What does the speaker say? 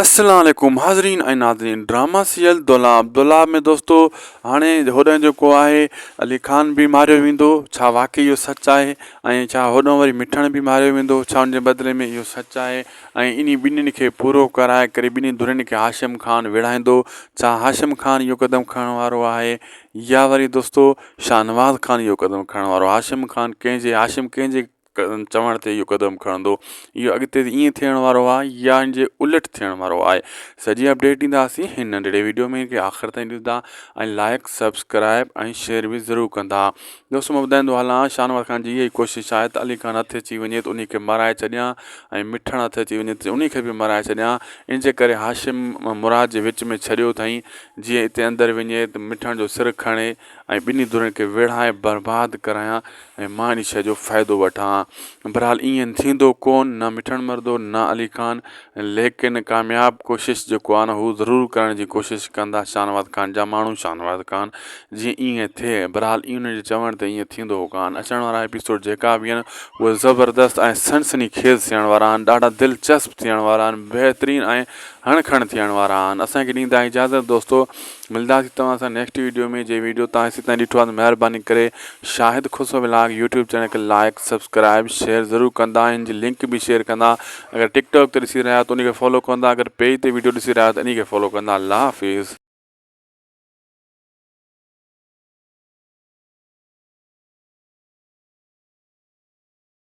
اسلام عليڪم حاضرين ۽ ناظرين ڊراما سيريل دولاب دولاب ۾ دوستو هاڻي هوڏنهن جيڪو آهي علي خان به ماريو ويندو ڇا واقعي اهو سچ آهي ۽ ڇا هوڏنهن وري مٺڻ به ماريو ويندو ڇا ان جي بدلي ۾ اهو سچ آهي ۽ انهي ٻنهين کي پورو ڪرائي ڪري ٻنهي ڌرين کي هاشم خان ويڙهائيندو ڇا هاشم خان اهو قدم کڻڻ وارو آهي يا وري دوستو شاهنواز خان اهو قدم کڻڻ وارو هاشم خان ڪنهن جي هاشم ڪنهن جي چوڻ تي اهو قدم کڻندو اهو اڳتي ائين ٿيڻ وارو آهي يا ان جي الٽ ٿيڻ وارو آهي سڄي اپڊيٽ ڏينداسين هن ننڍڙي ويڊيو ۾ کي آخر تائين ڏسندا ۽ لائق سبسڪرائب ۽ شيئر به ضرور ڪندا دوستو مان ٻڌائيندو هلان شاهنواز خان جي اها ئي ڪوشش آهي ته علي خان هٿ اچي وڃي ته ان کي مرائي ڇڏيان ۽ مٺڻ هٿ اچي وڃي ته ان کي به مرائي ڇڏيان ان جي ڪري هاشم مراد جي وچ ۾ ڇڏيو اٿائين جيئن هتي اندر وڃي ته مٺڻ جو سر کڻي ۽ ٻنهي ڌرين کي ويڙهائي برباد ڪرايان ۽ مان ان شيء جو فائدو وٺان ها. بھرحال ائين ٿيندو ڪون، نه مٺڻ مردو نه علي خان، ليڪن ڪامياب ڪوشش جيڪو آھن ھو ضرور ڪرڻ جي ڪوشش ڪندا شاھنواز خان جا ماڻھو شاھنواز خان جيئن ائين ٿئي. بھرحال انھن جي چوڻ تي ائين ٿيندو ھو ڪان. اچڻ وارا ايپيسوڊ جيڪا به آھن اھي زبردست ۽ سنسني خيز ٿيڻ وارا آھن، ڏاڍا دلچسپ ٿيڻ وارا آھن، بهترين ۽ ھڻ کڻ ٿيڻ وارا آھن. اسان کي ڏيندا اجازت دوستو ملداسين توهان سان نيڪسٽ ويڊيو ۾ جي ويڊيو توهان هيسين تائين ڏٺو آهي ته مهرباني ڪري Shahid Khusro vlog YouTube channel کي لائيڪ سبسڪرائيب شيئر ضرور ڪندا ان جي لنڪ به شيئر ڪندا اگر ٽڪ ٽاڪ تي ڏسي رهيا آهيو ته ان کي فالو ڪندا اگر پيج تي ويڊيو ڏسي رهيا آهيو ته انهي کي فالو ڪندا الله حافظ.